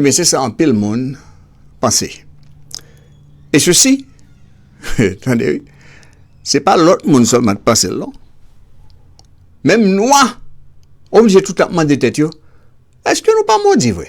Ebyen se sa anpil moun panse. E sesi, tande wi, se pa lòt moun sèlman k panse l non. Menm nwa oblije tout ap mande tèt yo, èske nou pa modi vre?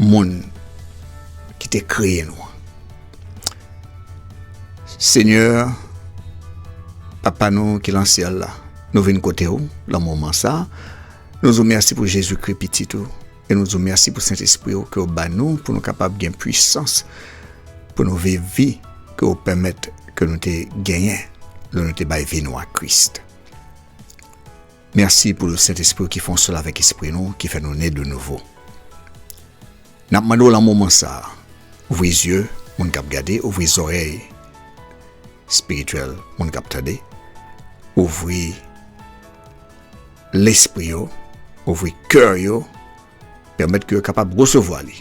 Moun ki te kreye nou an. Senyè, Papa nou ki lan syèl la, nou vin kote ou lan moman sa a. Nou di w mèsi pou Jezikri, Pitit ou, e nou di w mèsi pou Sentespri ou ke w ba nou pou nou kapab gen puisans pou nou viv vi ke w pèmèt ke nou te genyen lè nou te bay vi nou a Kris. Merci pou l Sentespri w ki fon sol avèk espri nou ki fè nou ne de nouvo. Nap mande w lan moman sa a, ouvri zye moun kap gade, ouvri zòrèy spirityèl moun kap tande, ouvri lespri yo, ouvri kè yo, pèmèt ke yo kapab resevwa li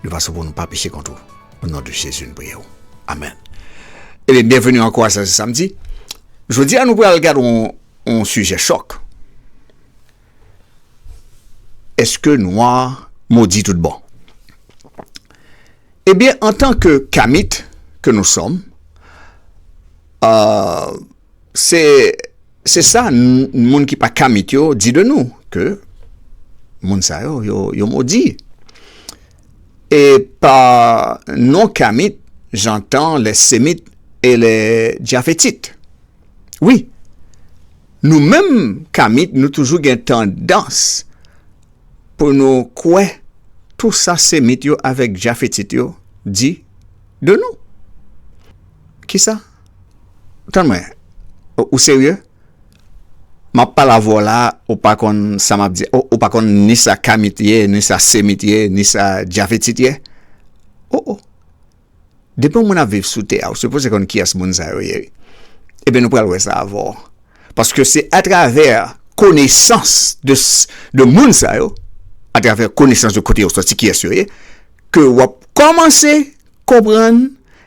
de fason pou nou pa peche kont ou. O non de Jezi n priye w. Amen. Ebyen byenveni ankò a sa se samdi. Jodi a nou pral gad yon. yon sijè chòk. Eske nwa modi tout bon? Ebyen antan ke kamit ke nou sòm, se sa moun ki pa kamit yo di de nou ke moun sa yo yo modi. E pa non kamit jantan lè semit e lè djafetit. Wi, nou menm Kamit nou toujou gen tandans pou nou kwè tou sa Semit yo avèk Jafetit yo di de nou. Ki sa? Tann mwen, ou serye? M ap pale avè w la a, ou pa konn sa m ap di a? Ou pa konn ni sa Kamit ye, ni sa Semit ye, ni sa Jafetit ye? O o! Depi yon moun ap viv sou tè a ou sipoze konn kiyès moun sa yo ye wi. Ebyen nou pral wè sa avè w. Paske se atravè konesans de moun sa yo, atravè konesans de kote yo soti kiyès yo ye ke w ap kòmanse konprann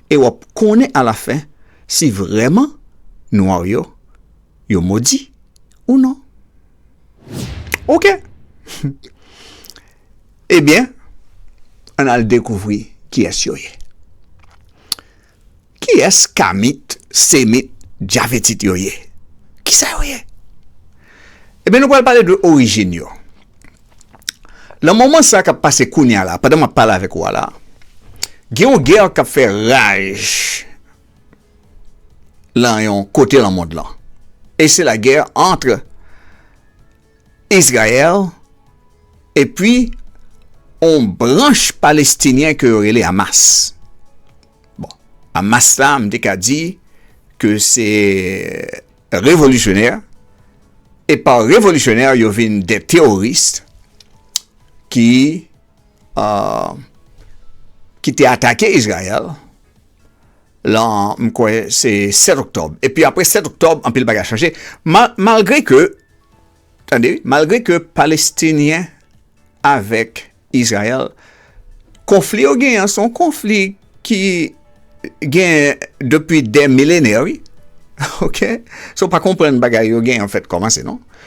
e w ap konnen alafen si vrèman nwa yo yo modi ou non. Ok! Ebyen, ann al dekouvri kiyès yo ye. Kiyès Kamit, Semit, Dyavitit yo ye? Kisa yo ye? Ebyen, nou pral pale de orijin yo. Lan moman sa k ap pase kounye a la, pandan m ap pale avèk ou a la, gen yon gè k ap fè raj lan yon kote lan mond lan. E se lagè antre. Izrayèl epi on branch palestinyen ke yo rele Hamas. Bon, Hamas la m te ka di ke se revolisyonè e pa revolisyonè yo vin de teworis ki euh, ki te atake Izrayèl. lan m kwè se 7 oktòb epi apre 7 oktòb anpil bagay chanje malgre ke tande malgre ke palestinyen avèk Izrayèl konfli yo gen an son konfli ki gen depi de milenè wi ok so pa konprann bagay yo gen an fèt kòmanse non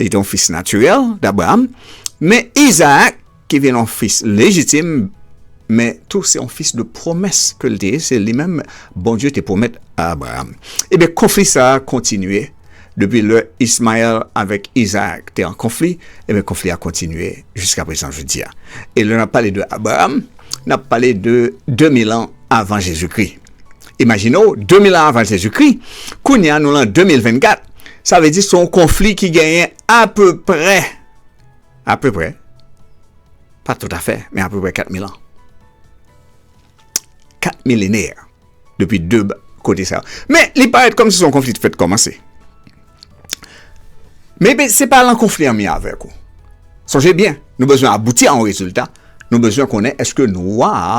Li te yon fis natirèl d'Abraham, men Isaac ki vin yon fis lejitim, men tou se yon fis de pwomès ke li te ye, se li menm Bondye te pwomèt a Abraham. Ebyen konfli sa a kontinye depi lè Ismaël avèk Isaac te an konfli, ebyen konfli a kontinye jiska prezan jodi a. E lè n'ap pale de Abraham, n'ap pale de 2000 an avan Jezikri. Imajine w, 2000 an avan Jezikri, kounye a nou lan 2024, sa vle di se yon konfli ki genyen apeprè, apeprè, pa toutafè, men apeprè 4000 an. 4 milenè depi 2 kote sa yo. Men, li parèt kòm si se yon konfli ki fèt kòmanse. Men, se pa lan konfli an mi avèk ou. Sonje byen, nou bezwen abouti a yon rezilta, nou bezwen konnen eske nwa a,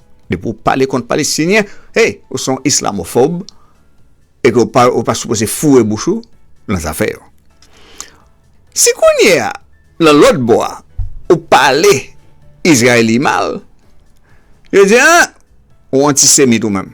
Depi ou pale kont Palestinyen, hey, ou se yon islamofòb e ke ou pa sipoze foure bouch ou nan zafè yo. Si kounye a, nan lòt bò a, ou pale Izrayeli mal, yo di, an, ou antisemit ou menm.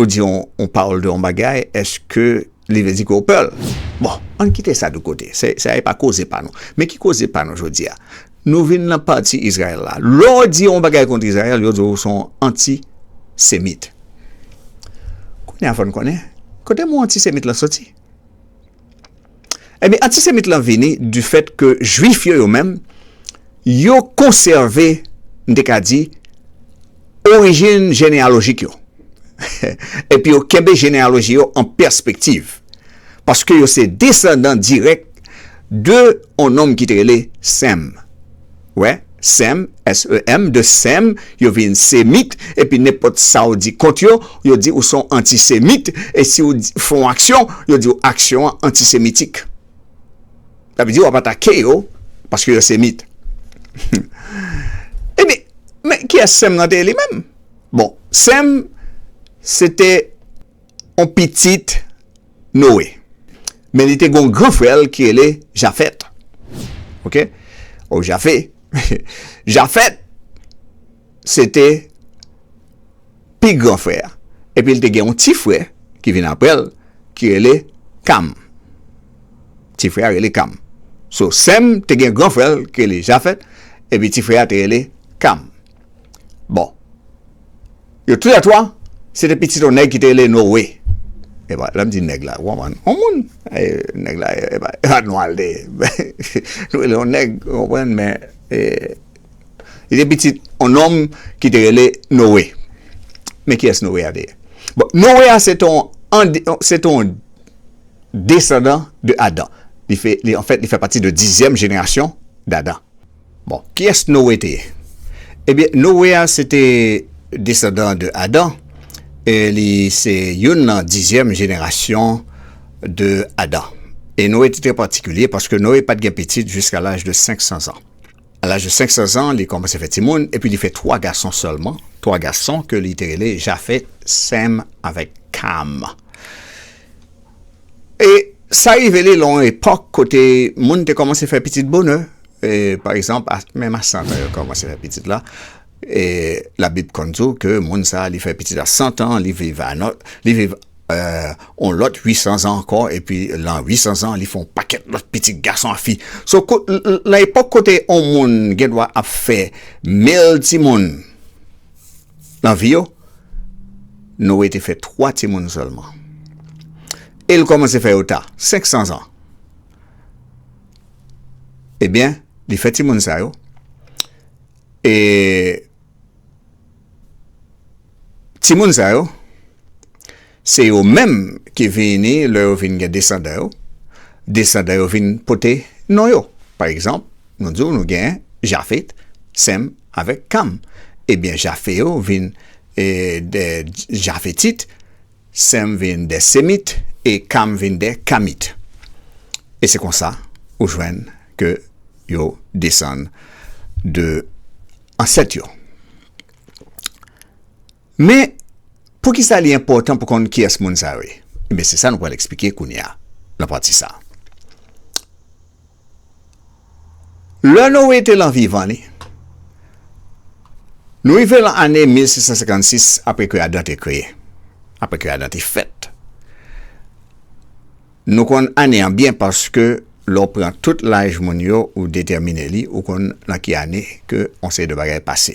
Ou di yon pawòl de yon bagay, èske li vle di ke ou pè l? Bon, ann kite sa de kote. Sa e pa koze pa nou. Men ki koze pa nou jodi a? Nou vin nan pati Izrayèl la. Lè w di yon bagay kont Izrayèl, yo di w ou se yon antisemit. Kounye a fò n konnen, kote mo antisemit la soti? Ebyen, antisemit lan vini di fèt ke jwif yo yo menm, yo konsève, m te ka di, orijin jeneyalojik yo. Epi yo kenbe jeneyaloji yo an pèspektiv. Paske yo se desandan dirèk de yon nonm ki te rele Sem. wè Sem, S-E-M, de Sem, yo vin Semit, epi nenpòt sa w di kont yo, yo di ou se yon antisemit, e si w fè yon aksyon, yo di w aksyon an antisemitik. Sa vle di w ap atake yo paske yo Semit. Ebyen, men kiyès Sem nan te ye li menm? Bon, Sem se te yon pitit. Noe. Men li te gen yon gran frè l ki rele Jafet. Ok. Ou Jafe. Jafet se te pi gran frè a. Epi li te gen yon ti frè ki vin apre l ki rele Kam. Ti frè a rele Kam. So Sem te gen gran frè l ki rele Jafet. Epi ti frè a te rele Kam. Bon, yo tou lè twa, se te pitit yon nèg ki te rele Noe. E ba, lèm di nèg la, ou anman, ou moun. E nèg la, e ba, e ba nou al de. Nou rele yon nèg, ou anman, men, e, li te pitit yon nonm ki te rele Noe. Men ki es Noe a te? Bon, Noe a se ton, se ton desandan de Adam. Li fè, li, an fèt, li fè pati de dizyèm jenerasyon d'Adam. Bon, kiyès Noe te ye? Ebyen, Noe a se te desandan de Adan e li se youn nan dizyèm jenerasyon de Adan. E Noe te trè patikilye paske Noe pa t gen pitit jiska laj de senksanzan. A laj de senksanzan, li kòmanse fè timoun epi li fè twa gason sèlman, twa gason ke li te rele Jafèt, Sèm avèk Kam. E sa rive li lan yon epòk kote moun te kòmanse fè pitit bonè. E, pa egzanp, menm a santan yo kòmanse fè pitit la. E, Labib konn di w ke moun sa a li fè pitit a santan, li viv a nan, li viv yon lòt wisanzan ankò, epi lan wisanzan li fè yon pakèt lòt pitit gason ak fi. So, lan epòk kote yon moun gen dwa ap fè mil timoun. Nan vi yo, Noe te fè twa timoun sèlman. E l kòmanse fè yo ta, 500 zan. Ebyen, li fè timoun sa yo, e timoun sa yo, Se yo menm ki vini lè yo vin gen desandan yo, desandan yo vin pote non yo. Pa egzanp, nou di w nou gen Jafet, Sèm avèk Kam. Ebyen Jafet yo vin de Jafetit, Sèm vin de Semit e Kam vin de Kamit. E se konsa ou jwenn ke yo desann de ansèt yo. Men, poukisa li enpòtan pou konn kiyès moun sa yo ye? Enben, se sa nou pral esplike kounye a, nan pati sa a. Lè Noe te lan vivan li, nou rive lan ane 1656 apre ke Adan te kreye, apre ke Adan te fèt. Nou konn ane an byen paske lè w pran tout laj moun yo, ou detèmine li, ou konn lan ki ane ke yon seri de bagay pase.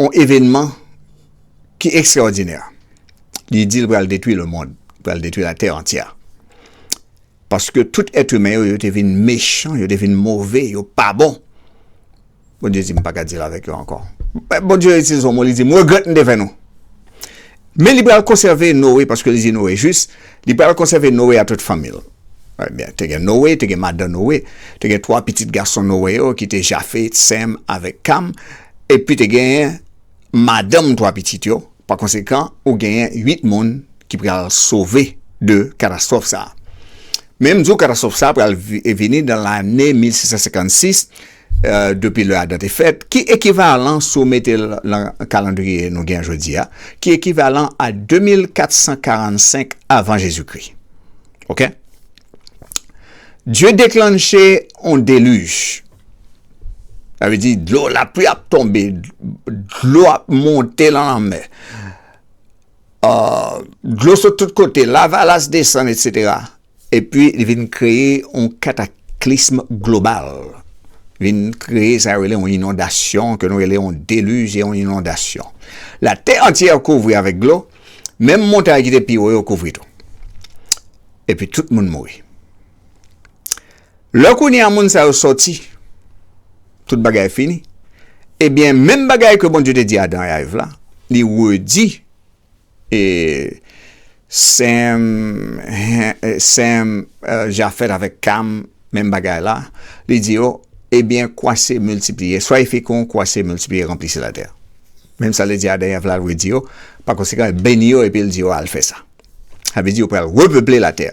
On evenman ki ekstraòdinè. Li di l pral detwi lemonn, li pral detwi latè antyè. Paske tout èt imen yo, yo te vin mechan, yo te vin move, yo pa bon. Bondye di m pa ka di l avèk yo ankò. Bondye itilize yon mo, li di m regrèt m te fè nou. Men li pral konsève Noe, paske li di Noe jis, li pral konsève Noe a tout fanmi l. Ebyen, te gen Noe, te gen madan Noe, te gen twa pitit gason Noe yo ki te Jafe, Sèm avèk Kam, epi te genyen madanm twa pitit yo, pakonsekan, ou genyen uit moun ki pral sove de katastwòf sa a. Men m di w katastwòf sa a pral vini nan lane 1656, Depi lè Adan te fèt, ki ekivalan, si w mete l nan kalandriye nou gen jodi a, ki ekivalan a 2445 avan Jezikri. Ok. Dye deklanche yon delij. Sa vle di dlo, lapli ap tonbe, dlo ap monte nan lanmè. Dlo sot tout kote, lavalas desann, etc. Epi li vin kreye yon kataklism global, vin kreye sa yo rele yon inondasyon, ke nou rele yon deluj e yon inondasyon. Latè antyè kouvri avèk dlo, menm montay ki te pi wo yo kouvri tou. Epi tout moun mouri. Lè kounye a moun sa yo sòti, tout bagay fini. Ebyen, menm bagay ke Bondye te di Adan e Èv la, li redi. E Sem, Sem, Jafèt avèk Kam, menm bagay la, li di yo, Ebyen, kwase, miltipliye, swaye fekon, kwase, miltipliye, ranplisi latè. Menm sa li di Adan e Èv la, l vle di yo, pakonsekan, l beni yo epi l di yo al fè sa. Sa vle di yo pral repeple latè.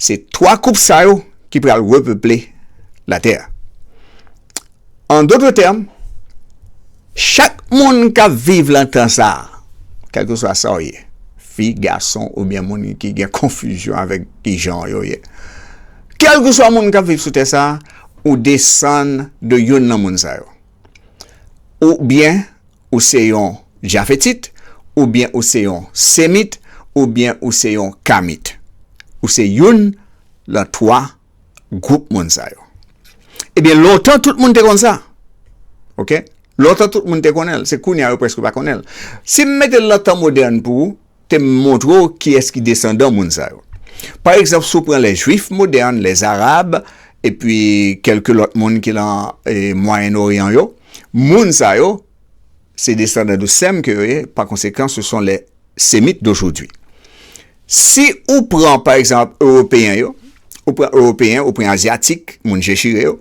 Se twa koup sa yo ki pral repeple latè. An dotre tèm, chak moun k ap viv lan tan sa a, kèlkeswa sa w ye, fi, gason oubyen moun ki gen konfizyon avèk ki jan yo ye, kèlkeswa moun k ap viv sou tè sa a, ou desann de youn nan moun sa yo. Oubyen ou se yon Jafetit, oubyen ou se yon Semit, oubyen ou se yon Kamit. Ou se youn lan twa gwoup moun sa yo. Ebyen lontan tout moun te konn sa. Ok? Lontan tout moun te konnen l. Se kounye a yo preske pa konnen l. Si m mete l nan tan modèn pou ou, te m montre ou kiyès ki desandan moun sa yo. Pa egzanp, si w pran lè jwif modèn, lè zarab, epi kèlke lòt moun ki lan Mwayen Oryan yo, moun sa yo, Se desandan de Sèm ke yo ye, pa konsekan se son lè Semit dojodwi. Si ou pran pa egzanp Ewopeyen yo, ou pran Ewopeyen, ou pran Azyatik, moun je chire yo,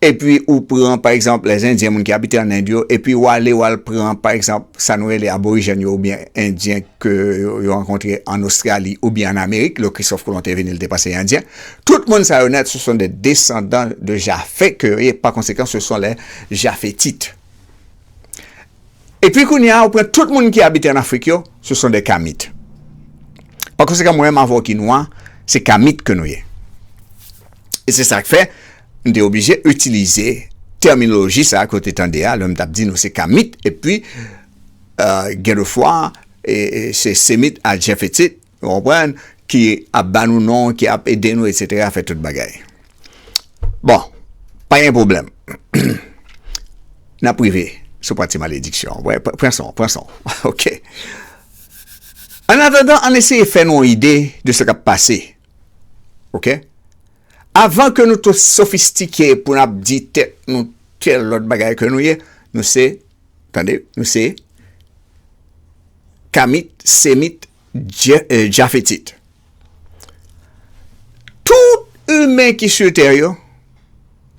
epi ou pran pa egzanp lè Endyen, moun ki abite an End yo, epi ou ale ou al pran pa egzanp sa nou rele Aborijèn yo oubyen Endyen ke yo rankontre an Ostrali oubyen an Amerik, lè Kristòf Kolon te vini li te pase Endyen, tout moun sa yo nèt se son de desandan de Jafe ke yo ye, pa konsekan se son lè Jafetit. E pi kounye a, ou pran tout moun ki abite an Afrik yo, se son de Kamit. Pa konsekan, mwen menm avè w ki nwa, se Kamit ke nou ye. E se sa k fè, m te oblije itilize tèminoloji sa a ke w te tande a, lè m t ap di nou se Kamit, e pi, gen de fwa, se Semit a Jefetit, Ou konprann? Ki ap ba nou non, ki ap ede nou, etsetera, fè tout bagay. Bon, pa gen pwoblèm. N ap rive sou pati malediksyon an. Wè, pran san w, pran san w. Ok. Annatandan, ann eseye fè nou yon ide de sa k ap pase. Ok? Avan ke nou tou sofistike pou n ap di tèt nou tèl lòt bagay ke nou ye, nou se, tande, nou se, Kamit, Semit, Jafetit. Tout imen ki sou tè yo,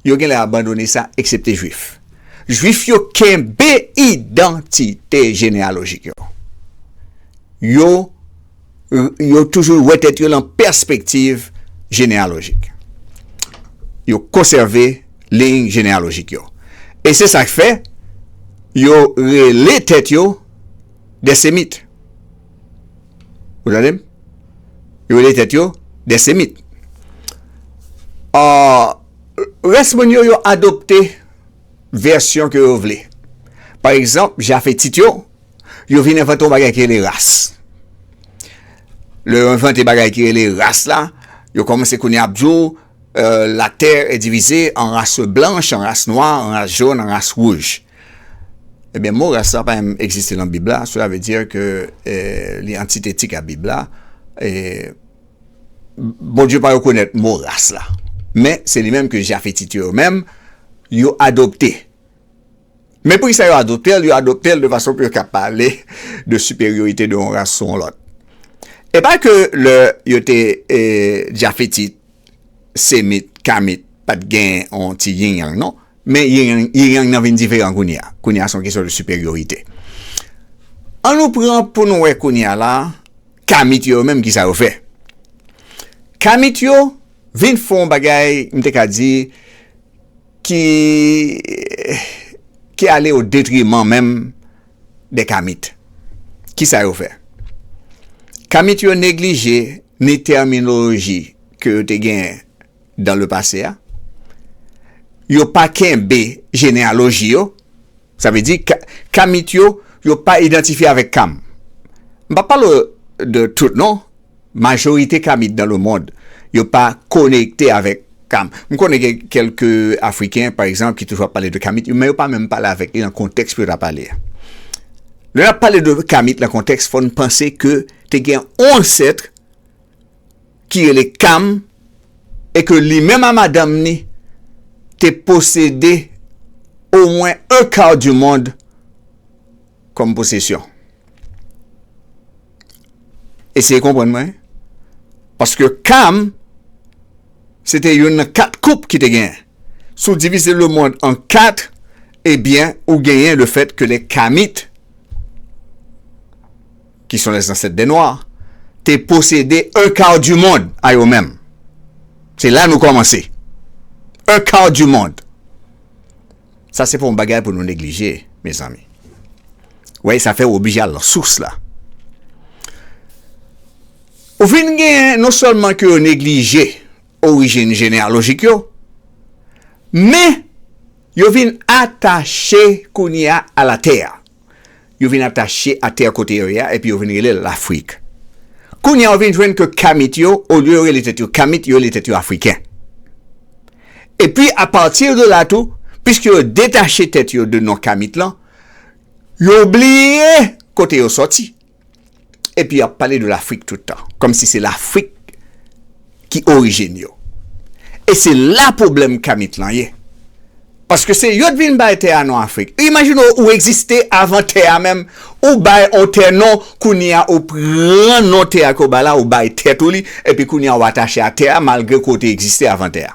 yo genlè abandone sa, eksepte Juif. Juif yo kenbe idantite jeneyalojik yo. Yo, yo toujou wè tèt yo lan pèspektiv jeneyalojik. Yo konsève liy jeneyalojik yo. E se sa k fè, yo rele tèt yo. des Semites. Ou tande m? Yo rele tèt yo des Semites. An, rès moun yo, yo adopte vèsyon ke yo vle. Pa egzanp, Jafetit yo, yo vin envante yon bagay ki rele ras. Lè yo envante bagay ki rele ras la, yo kòmanse kounye a ap di w, Latè e divize an ras blanch, an ras nwa, an ras jòn, an ras wouj. Ebyen mo ras la pa menm egziste nan bib la sela vle dir ke li antitetik a bib la e Bondye pa rekonèt mo ras la men se li menm ke jafetit yo yo menm yo adopte men poukisa yo adoptel yo adoptel de fason pou yo ka pale de siperyorite de yon ras sou yon lòt e pa ke lè yo te jafetit semit kamit pat gen yon ti yin yang non Men yin yang nan vin diferan kounye a. Kounye a se yon kesyon de siperyorite. An nou pran pou nou wè kounye a la, kamit yo yo menm ki sa yo fè. Kamit yo vin fè yon bagay m te ka di ki ki ale o detriman menm de kamit. Ki sa yo fè? Kamit yo neglije ni tèminoloji ke yo te genyen dan le pase a, yo pa kenbe jeneyaloji yo, sa vle di Kamit yo, yo pa idantifye avèk Kam. M pa pale de tout non, majorite Kamit dan le mond, yo pa konekte avèk Kam. M konnen gen kèlke Afriken, pa egzanp, ki toujou ap pale de Kamit, men yo pa menm pale avèk li nan kontèks pou yo ta pale a. Lè n ap pale de Kamit nan kontèks, fò n panse ke te gen yon ansèt, ki rele Kam e ke li menm a madanm ni te posede o mwen un quart du monde kòm posesyon. Eseye konprann mwen, paske Kam se te youn nan kat koup ki te genyen. Si w divize le mond an kat, ebyen ou genyen le fèt ke les Kamites, ki son les ancêtres des noirs, te posede un quart du monde a yo menm. Se la nou komanse. Un quart du monde. Sa se pa yon bagay pou nou neglije, mezanmi. Wey, sa fè ou oblije al lan sous la. Ou fin gen, non sèlman ke yo neglije orijin jeneyalojik yo, men, yo vin atache kounye a a la tè a. yo vin atache a tè kote yo ye a epi yo vin rele l Lafrik. Kounye a ou vin jwenn ke Kamit yo, olye yo rele tèt yo Kamit, yo rele tèt yo Afriken. Epi apati de la tou, piske yo detache tèt yo de non Kamit lan, yo bliye kote yo sòti. Epi yap pale de lafrik tout tan. Kom si se lafrik ki orijin yo. E se la pwoblèm kamit lan ye. Paske se yo t vin bay tè a non afrik. Imajine w ou egziste avan tè a menm. Ou bay on tè non kounye a ou pran non tè a ke w bay la ou bay tèt ou li. Epi kounye a ou atache a tè a malgre ke w te egziste avan tè a.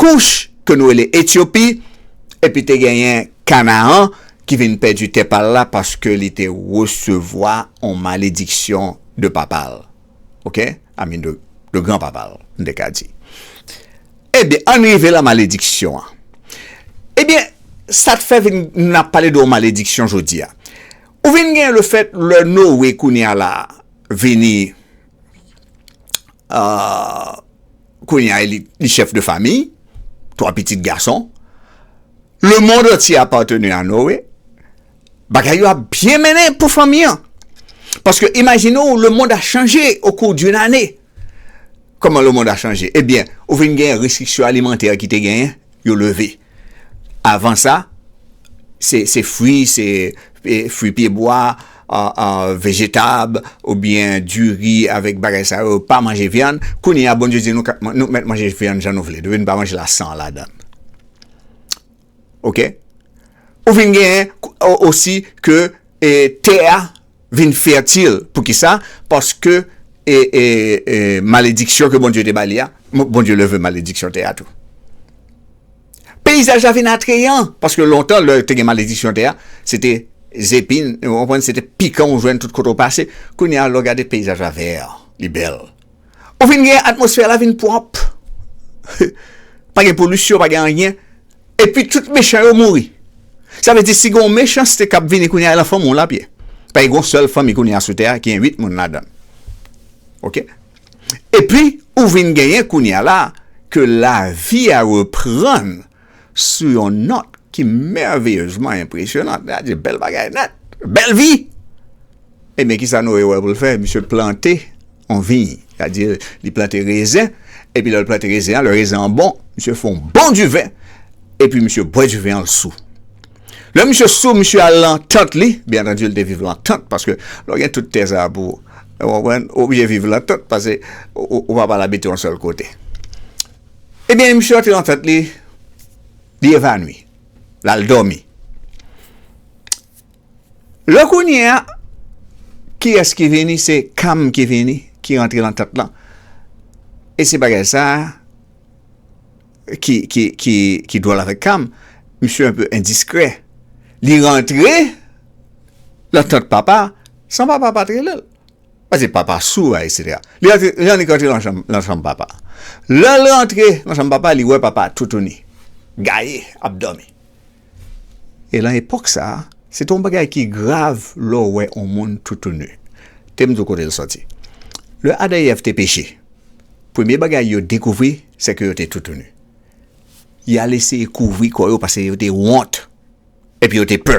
Kouch, ke nou rele Etyopi, epi te genyen Kanaan, ki vin pèdi tè pa l la paske li te resevwa yon malediksyon de papa l, oke, a min de, de gran papa l, m te ka di. Ebyen, ann rive lan malediksyon an. Ebyen, sa k fè vin, n ap pale de yon malediksyon jodi a? Ou vin genyen le fèt, lè Noe kounye a la vini, a, kounye a li chèf de famiy, twa pitit gason. Lemond antye apateni a Noe. Bagay yo ap byen mennen pou fanmi an. Paske imajine ou lemond a chanje o kou d'une ane. Koman lemond a chanje? Ebyen, ou vin gen restriksyon alimantè ki te genyen, yo leve. Avan sa, se fwi, se fwi pye bwa, vejetab, oubyen diri avèk bagay sa yo, pa manje vyann. Kounye a, Bondye di nou k, nou k mèt manje vyann jan nou vle, depi nou pa manje la san ladan l. Oke? Ou vin gen osi ke tè a. vin fètil poukisa paske malediksyon ke Bondye te ba li a Bondye leve malediksyon tè a tou peyizaj la vin atreyan paske lontan lè te gen malediksyon tè a se te zepin se te pikan ou jwenn tout kote ou pase kounye a lè w gade peyizaj la vè li bèl. Ou vin gen atmosfè la vin pwòp. Pa gen polisyon, pa gen anyen. E pi tout mechan yo mouri. Sa vle di si gen yon mechanste k ap vini kounye a, nan fanmi w l ap ye. Paske gen yon sèl fanmi kounye a sou tè a ki gen 8 moun ladan l. Ok. E pi ou vin genyen kounye a la ke lavi a reprann. Sou yon nòt ki mèveyezman enpresyonant, gad yon bèl bagay nèt! Bèl vi! Ebyen, ki sa Noe wè pou l fè? Misye plante yon viy, sètadi li plante rezen, epi lè l plante rezen an, lè rezen an bon, misye fè yon bon diven, epi misye bwè diven an, l sou. Lè misye sou, misye al lan tant li, byennantandi l te viv lan tant, paske lè w gen tout tè sa a pou, ou konprann, ou oblije viv lan tant, pase ou pa pral abite yon sèl kote. Ebyen misye rantre nan tante li, li evanwi, l al dòmi. Lè kounye a, kiyès ki vini? Se Kam ki vini, ki rantre nan tante lan. E se bagay sa a ki dwòl avèk Kam, misye anpe endiskrè. Li rantre nan tante papa san papa pa t rele l. Pase papa sou a etc. Li rantre Jannik rantre nan chanm papa. Lèl rantre nan chanm papa li wè papa toutouni, gaye ap dòmi. E lan epòk sa se te yon bagay ki grav lè w wè yon moun toutouni. Te m di w kote l sòti. Lè Adan e Èv te peche, premye bagay yo dekouvri se ke yo te toutouni. Y al eseye kouvri kò yo pase yo te wont epi yo te pè.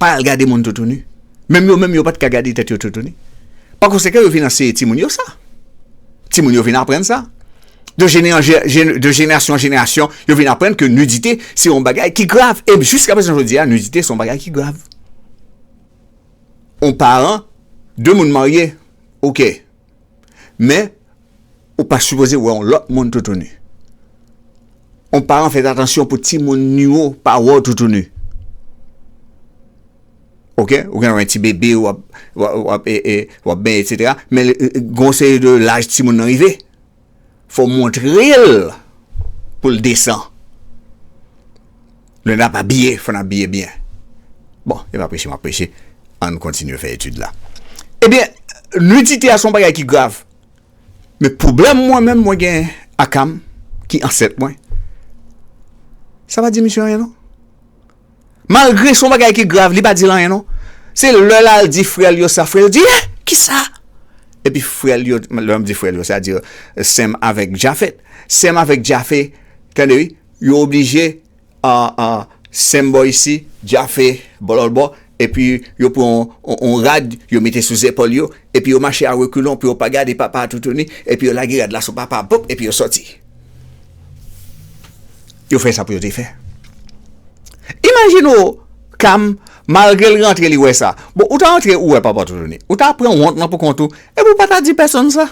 Pa al gade moun toutouni. Menm yo menm yo pa t ka gade tèt yo toutouni. Pa konsekan yo vin anseye timoun yo sa. Timoun yo vin aprann sa. De jenerasyon an jenerasyon, yo vin aprann ke nidite se yon bagay ki grav. E jiska prezan jodi a, nidite se yon bagay ki grav. Yon paran, de moun marye, ok. Men, Ou pa sipoze wè yon lòt moun toutouni. Yon paran fèt atansyon pou timoun ni yo pa wè w toutouni. Ok, ou gen yon ti bebe w ap benyen etc. Men gen yon seri de laj timoun nan rive. Fò w montre l pou l desan. Lè n ap abiye, fò n abiye byen. Bon, e pa preche m ap preche. An n kontinye fè etid la. Ebyen, nidite a se yon bagay ki grav. Men pwoblèm mwen menm mwen gen akam ki ansèt mwen sa pa di misye anyen non malgre son bagay ki grav li pa dil anyen non se lè lal di frèl yo sa frèl di eh kisa epi frèl yo lèm di frèl yo sa di sem avèk jafet sem avèk jafe tande wi yo oblije Ahh ahh sem bò isi djafe bò lòt bò epi yo pran yon rad yo mete sou zepòl yo epi yo mache a rekulon pou yo pa gade papa a toutouni epi yo lage rad la sou papa a poup epi yo sòti yo fè sa pou yo te fè imajine w Cam malgre l rantre li wè sa bon ou ta rantre ou wè papa toutouni ou ta pran wont lan pou kont ou epi ou pa ta di pèsonn sa.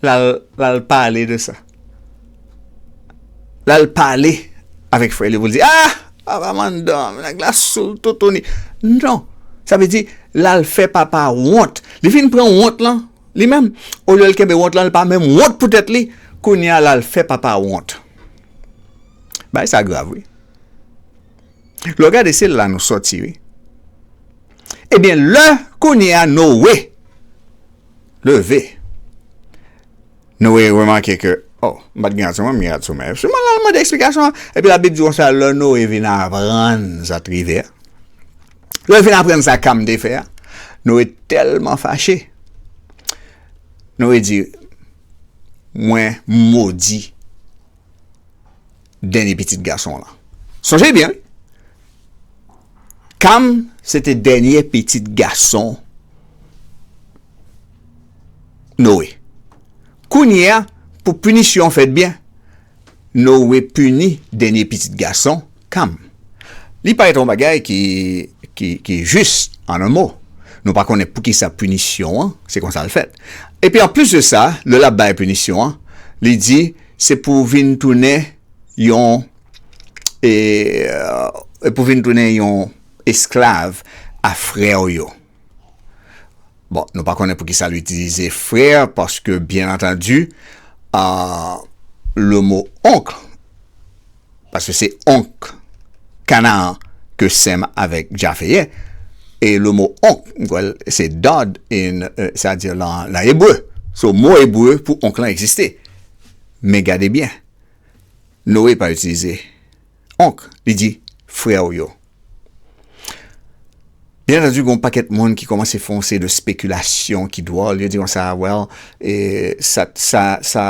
Lal pale de sa. Lal pale avek frè li pou li di ah papa mandom neg la soul toutouni non sa vle di lal fè papa wont li vin pran wont lan li menm olye li kenbe wont lan li pa menm wont pou tèt li kounya lal fè papa wont bay sa grav wi lò gade se la nou soti wi ebyen lè kounya nou we Leve. Noe remake ke, O, m pa t gen rad sou mwen, m gen rad sou mwen. Epi, l al mande eksplikasyon an. Epi, Labib di konsa, lè Noe vin aprann sa te rive a, lè l fin aprann sa Kam te fè a, Noe tèlman fache, Noe di, Mwen modi. dènye pitit gason lan. Sonje byen wi. Kam se te dènye pitit gason Noe. Kounye a, pou pinisyon an fèt byen, Noe pini dènye pitit gason Kam. Li parèt yon bagay ki jis, an yon mo. Nou pa konnen poukisa pinisyon an se konsa l fèt. Epi anplis de sa, lè l ap bay pinisyon an, li di, Se pou vin tounen yon e pou vin tounen yon esklav a frè w yo. Bon, nou pa konnen pou ki sa l itilize frè, paske byen antandi, le mo oncle. Paske se onk Kanaan ke Sèm avèk Jafe ye, e le mo onk, m kwè l se dad in sa di lan ebre. So mo ebre pou onk lan egziste. Men gade byen, Noe pa itilize onk, li di frè w yo. Byen antandu, gen yon pakèt moun ki kòmanse fè yon seri de spekilasyon ki dwòl, yo di konsa, well, sa, sa, sa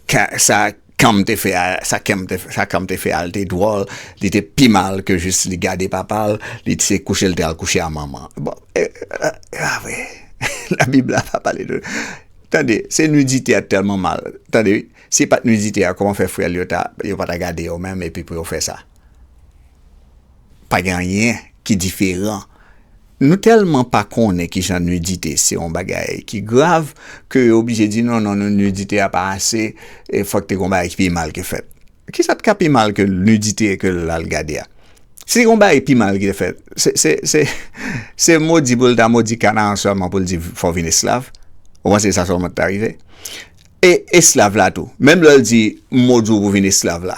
Ka, sa Kam te fè a, sa Kem te fè, sa Kam te fè a, li te dwòl, li te pi mal ke jis li gade papa l, li t se kouche l te al kouche a manman. Bon, e, e, e avwe, Labib la pa pale de, tande, se nidite a t tèlman mal, tande, si e pa t nidite a, kòman fè frè l yo ta, yo pa ta gade yo menm epi pou yo fè sa? Pa gen anyen ki diferan. Nou tèlman pa konnen ki jan nidite se yon bagay ki grav ke yo oblije di non non non nidite a pa ase e fòk te gen yon bagay ki pi mal ki fèt. Kisa t ka pi mal ke nidite e ke l al gade a? Si te gen yon bagay pi mal ki te fèt, se se se se modi pou l ta modi Kanaran sèlman pou l di fò w vin esklav? Ou panse se sa sèlman ki ta rive? E esklav la tou, menm lè l di modi w pou vin esklav la,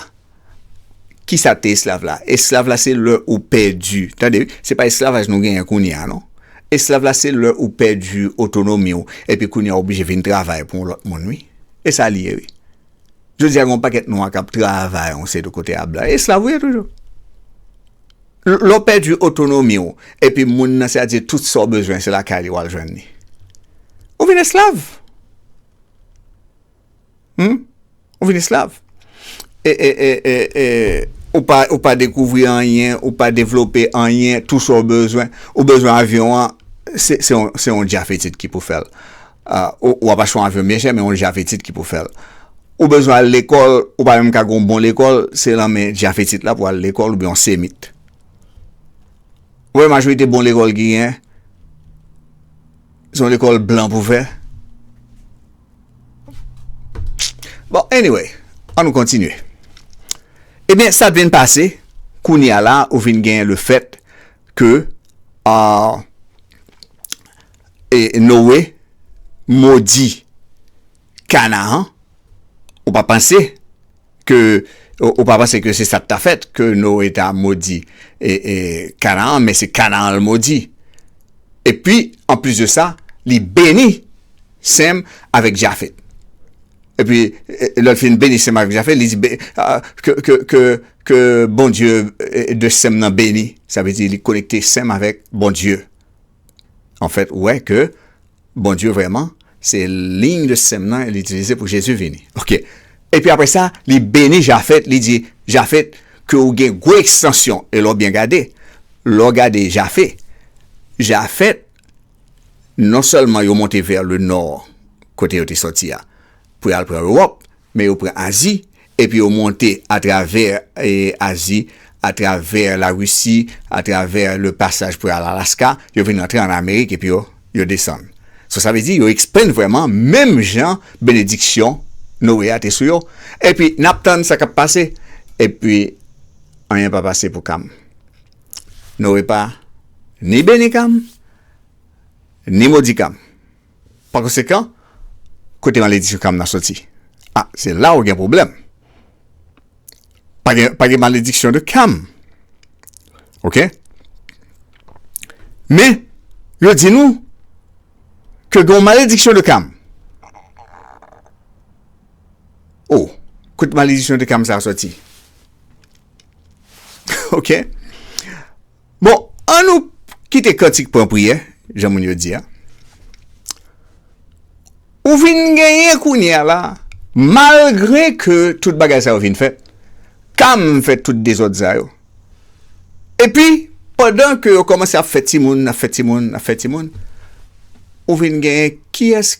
Kisa te esklav la? Esklav la se lè ou pèdi, tande wi, se pa esklavaj nou genyen kounye a non. Esklav la se lè ou pèdi otonomi ou epi kounye a ou oblije vin travay pou yon lòt moun wi. E sa li ye wi. Jodi a gen yon pakèt nwa k ap travay yon seri de kote a blan. Esklav ou ye toujou. Lè ou pèdi otonomi ou epi moun nan sètadi tout sa ou bezwen se lakay li w al jwenn li. Ou vin esklav. Humm ou vin esklav. E e e e e ou pa ou pa dekouvri anyen, ou pa devlope anyen, tou sa ou bezwen, ou bezwen avyon an, se se yon se yon djafetit ki pou fè l. Ou ou ap achte yon avyon byen chè men yon djafetit ki pou fè l. Ou bezwen al lekòl, ou pa menm ka gen yon bon lekòl, se lan men djafetit la pou w al lekòl oubyen yon semit. Ou wè majorite bon lekòl ki genyen, se yon lekòl blan pou fè. Bon anyway an nou kontinye ebyen eh sat vin pase kounya la ou vin gen le fèt ke aah e Noe modi Kanahan ou pa panse. ke ou pa panse ke se sa k ta fèt, ke Noe ta modi Kanaan, men se Kanaan l modi. Epi, anplis de sa, li beni Sem avèk Jafet. Epi, lè l fin beni Sem avèk Jafet, li di, Ke Bondye de Sem nan beni. Sa vle di, li konekte Sem avèk Bondye. Anfèt, ou wè ke. Bondye vrèman se ligne de sem nan li itilize pou Jezi vini ok epi aprè sa li beni Jafet li di Jafet ke ou gen gwo ekstansyon e lè w byen gade lè w gade Jafe Jafet non sèlman yo monte vè le nò kote yo te sòti a pou y al pran Ewòp Men yo pran Azi, epi yo monte atravè Azi, atravè Larisi, atravè le pasaj pou y al Alaska, yo vin antre an Amerik epi yo yo desann. So sa vle di yo ekspann vrèman menm jan benediksyon Noe a te sou yo. Epi n ap tann sa k ap pase, epi anyen pa pase pou Kam. Noe pa ni beni Kam, ni modi Kam. Pa konsekan, kote maledisyon Kamna soti? A, se la ou gen pwoblèm. Pa gen, pa gen malediksyon de Kam. Ok? Men, yo di nou, ke gen yon malediksyon de Kam. O, kote malediksyon de Kam sa a soti? Ok? Bon, an nou kite kantik pran priyè, jan moun yo di a. Ou vin genyen kounye a la, malgre ke tout bagay sa yo vin fèt, Cam fè tout dezòd sa yo. Epi, pandan ke yo kòmanse ap fè timoun, ap fè timoun, ap fè timoun, ou vin genyen kiyès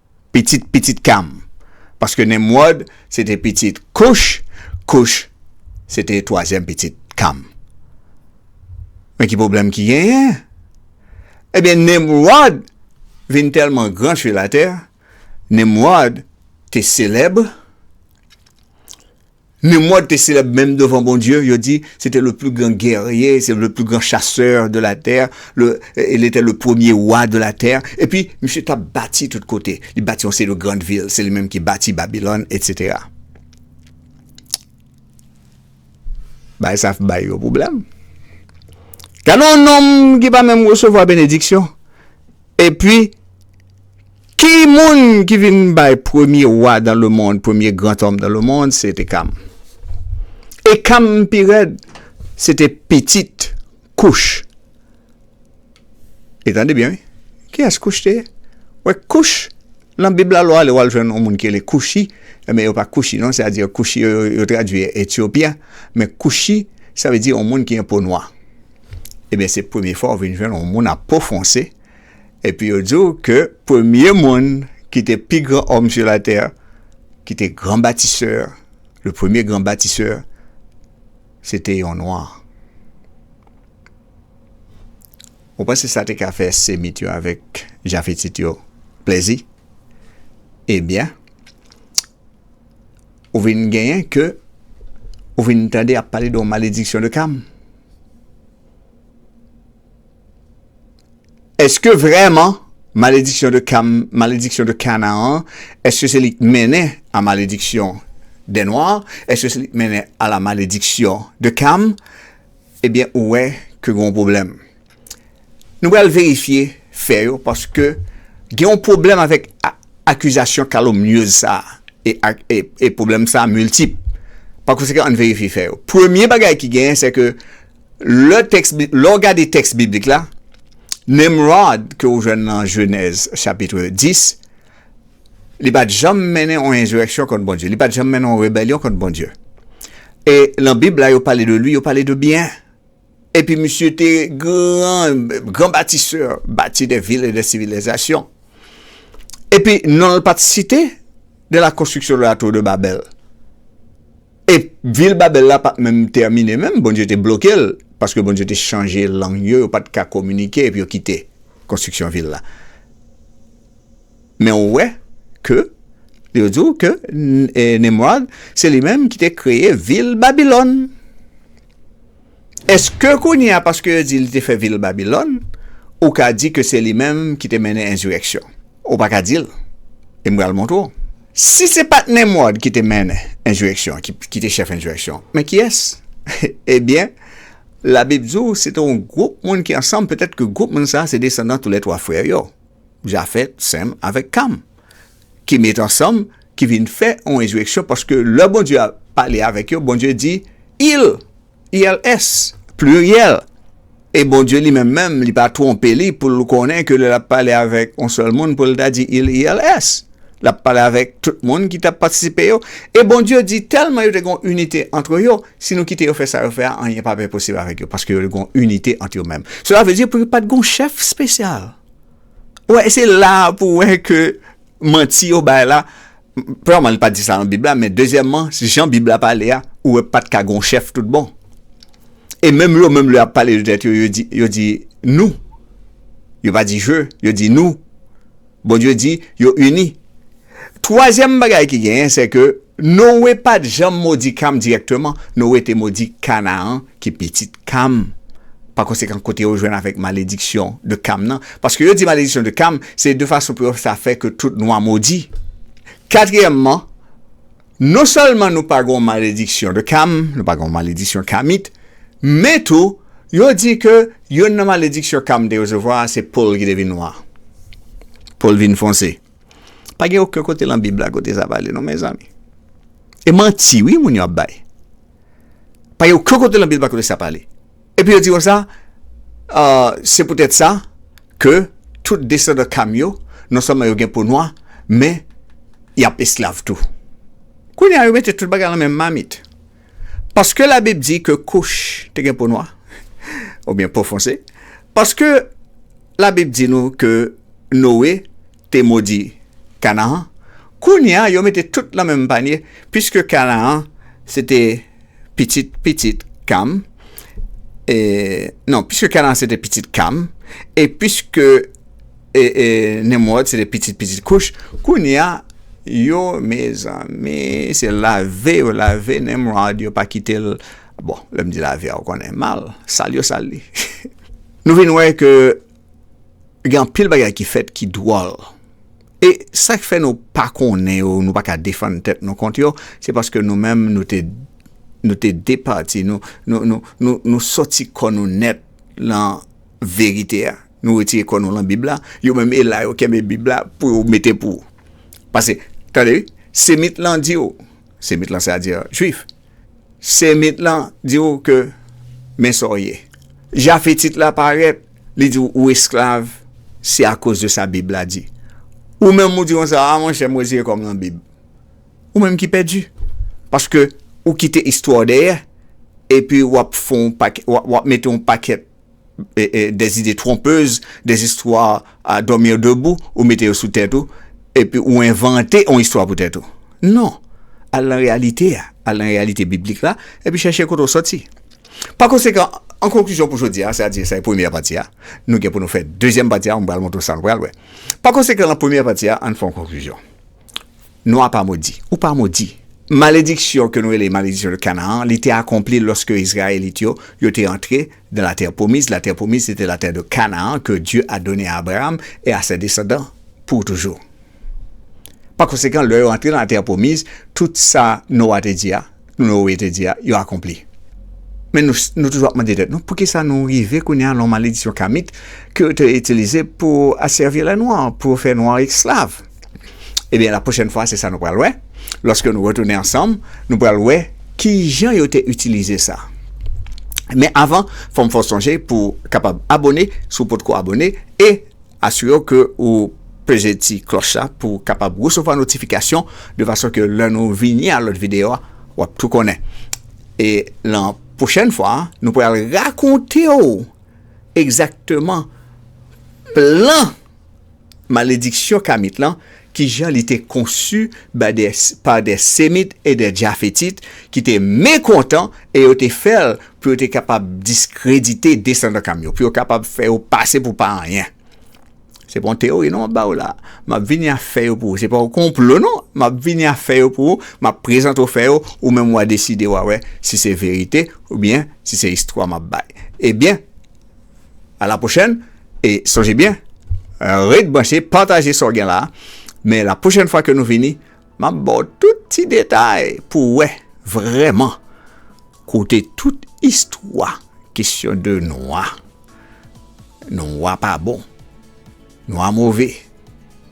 pitit pitit Kam, paske Nimwòd se te pitit Kouch, Kouch se te twazyèm pitit Kam. Men ki pwoblèm ki genyen? Ebyen Nimwòd vin tèlman gran su latè, Nimwòd te selèb, Nemwòd te selèb menm devan Bondye, yo di, se te le pli gran gèrye, se le pli gran chasè de la tè, le, e le te le premye wa de la tè, epi misye t ap bati tout kote, li bati yon seri de grand vil, se li menm ki bati Babilòn, etsetera. Bagay sa ap bay yo pwoblèm. Gade yon nonm ki pa menm resevwa benediksyon, epi, Ki moun ki vin bay premye wa dan le mond, premye gran tòm dan le mond, se te Kam. E Kam pi rèd, se te pitit Kouch. E tande byen wi, ki yès Kouch te ye? Wè Kouch, lan Bib la lè w ale w al jwenn yon moun ki rele Kouchi, e men yo pa Kouchi non, se a di Kouchi yo, yo tradui Etyopyen, men Kouchi, sa vle di yon moun ki gen po nwa. E byen se premye fwa w vin jwenn yon moun ap po fwonse, Epi yo di w ke premye moun ki te pi gran homme sur la terre, ki te gran batisè, le premier grand bâtisseur, se te yon nwa. Ou panse sa te ka fè Semit yo avèk Jafetit yo plèzi? Ebyen, ou vin genyen ke ou vin tande y ap pale de yon malediksyon de Kam. Eske vrèman malediksyon de Kam, malediksyon de Kanaan, eske se li k mennen a malediksyon dè nwa, eske se li k mennen a la malediksyon de Kam, ebyen ou wè ke gen yon pwoblèm. Nou pral verifye fè yo paske gen yon pwoblèm avèk akizasyon kalomnyez sa a e pwoblèm sa a miltip. Pakonsekan ann verifye fè yo. Premye bagay ki genyen se ke Lè tèks bi, lè w gade tèks biblik la, Nimròd ke ou jwenn nan Jenèz chapitre 10, li pa t janm mennen on enzireksyon kont Bondye, li pa t janm mennen on rebelyon kont Bondye. E lan Bib la yo pale de li, yo pale de byen. Epi misye te gran, gran batisè, bati de vil e de sivilizasyon. Epi non l pa t site de la konstriksyon de la tour de Babel. E vil Babèl la pa t menm tèmine menm, Bondye te bloke l, paske Bondye te chanje lang yo, yo pa t ka kominike epi yo kite konstriksyon vil la. Men ou wè ke yo di w ke Nimròd se li menm ki te kreye vil Babilòn. Eske kounye a paske yo di li te fè vil Babilòn, ou ka di ke se li menm ki te mennen enzireksyon? Ou pa ka di l. E m pral montre w. Si se pa t Nemwòd ki te mennen enzireksyon an, ki te chèf enzireksyon an, men kiyès? Ebyen, Labib di w se te yon gwoup moun ki ansanm, petèt ke gwoup moun sa a se desandan toulètwa frè yo, Jafèt, Sèm avèk Kam. ki met ansanm ki vin fè yon rezireksyon paske lè Bondye ap pale avèk yo Bondye di il ils pliryèl e Bondye li menm menm li pa twonpe li pou l konnen ke lè l ap pale avèk yon sèl moun pou l ta di il ils l ap pale avèk tout moun ki t ap patisipe yo e Bondye di tèlman yo te gen yon inite antre yo si nou kite yo fè sa yo fè a anyen pa p posib avèk yo paske yo te gen yon inite ant yo menm sela vle di pou yo pa t gen yon chèf spesyal. Wè se la pou wè ke manti yo bay la, premyèman li pa di sa nan bib la men dezyèmman jan bib la pale a ou wè pat ka gon chèf tout bon e menm yo menm lè yap pale de tèt yo yo di yo di nou yo pa di je yo di nou Bondye di yo ini. Twazyèm bagay ki genyen, se ke Noe pa t janm modi Kam dirèkteman, Noe te modi Kanaan, ki pitit Kam. Pakonsekan, kote yo jwenn avèk malediksyon de Kam nan? Paske yo di malediksyon de Kam, se de fason pou yo sa fè ke tout nwa modi. Katriyèmman, non sèlman nou pa gon malediksyon de Kam, nou pa gon malediksyon Kamit, men tou, yo di ke youn nan malediksyon Kam te resevwa a, se po l ki te vin nwa, po l vin fonse. Pa gen oken kote lan bib la kote sa pale non mezanmi. E manti wi moun yo ap bay. Pa gen oken kote lan bib la kote sa pale. E pi yo di konsa euh se pou tèt sa ke tout desandan Kam yo non sèlman yo gen po nwa men yap esklav tou. Kounye a yo mete tout bagay lan menm mamit. Paske labib di ke kouch te gen po nwa, oubyen po fonse, paske labib di nou ke Noe te modi Kanaan, kounye a yo mete tout lan menm panye, piske Kanaan se te pitit pitit Kam, e, non, piske Kanaan se te pitit Kam, e piske. E e Nemwòd se te pitit pitit Kouch. Kounye a, yo, mezanmi, se lave yo lave Nemwòd, yo pa kite l. Bon, lè m di lave a, ou konnen, mal, sal yo sal li. Nou vin wè ke gen anpil bagay ki fèt ki dwòl. E sa k fè nou pa konnen yo, nou pa ka defann tèt nou kont yo, se paske nou menm nou te nou te depati, nou nou nou nou soti kò nou nèt lan verite a. Nou retire kò nou lan bib la, yo menm e la yo kenbe bib la pou yo mete pou. Pase, tande wi, semit lan di yo, semit lan se a di jwif, semit lan di yo ke men sa w ye. Jafetit la parèt, li di w ou esklav, se a koz de sa bib la di. Ou menm ou di yon sa, a mon chè m retire kò m lan bib. Ou menm ki pèdi. Paske ou kite istwa w dèyè, epi w ap fon w ap mete yon pakèt. des idées trompeuses, des histoires à dormir debout, ou mete yo sou tèt ou, epi ou envante yon istwa pou tèt ou. Non! Al nan reyalite a, al nan reyalite biblik la, epi chèche kote w soti. Pa konsekan, an konklizyon pou jodi a, sa di sa e premyè pati a, nou gen pou nou fè dezyèm pati a, mwen pral montre w sa nou pral wè. Pa konsekan, nan premyè pati a, ann fè yon konklizyon. Nou a pa modi. Ou pa modi. Malediksyon ke nou rele Malediksyon de Canaan an, li te akonpli loske Izrayelit yo, yo te antre dan la terre promise, la terre promise se te la terre de Canaan ke Dieu a donne a Abraham et a ses descendants pour toujours. Par conséquent, lè yo antre dan la terre promise, tout sa Nou a te di a, Noe te di a, yo akonpli. Men nou toujou ap mande tèt nou, poukisa nou rive kounye a lan maledisyon kamit ke yo te itilize pou asèvi lè nwa, pou yo fè nwa esklav? Ebyen, la pwochèn fwa se sa nou pral wè, lòske nou retounen ansanm, nou pral wè kijan yo te itilize sa. Men avan, fòm fè w sonje pou kapab abone si w potko abone e. Asire w ke ou peze ti klòch la pou w kapab resevwa notifikasyon de fason ke lè nou vini a lòt videyo a, w ap tou konnen. E lan pwochèn fwa a, nou pral rakonte w egzakteman plan malediksyon kamit lan ki jan li te konsu ba dè, pa dè Semit e dè Jafetit ki te mekontan e yo te fè l pou yo te kapab diskredite desandan Kam yo, pou yo kapab fè yo pase pou pa anyen. Se pa yon teyori non m ap ba ou la a. M ap vini a fè yo pou ou. Se pa yon konplo non. M ap vini a fè yo pou ou, m ap prezante ou fè yo, ou menm w a deside w a wè si se verite oubyen si se istwa m ap bay. Ebyen. A la pwochèn e sonje byen ret branche pataje sa w gen la men la pwochèn fwa ke nou vini m ap ba w tout ti detay pou w wè vrèman kote tout istwa kesyon de nwa nwa pa bon. Nwa move.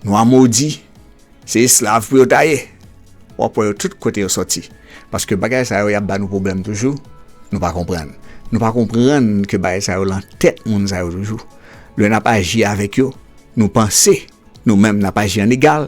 Nwa modi. Se esklav pou yo ta ye. Wap wè yo tout kote yo soti. Paske bagay sa yo yap ba nou pwoblèm toujou. Nou pa konprann. Nou pa konprann ke bagay sa yo lan tèt moun sa yo toujou. Lè nap aji avèk yo, nou panse nou menm nap aji an egal.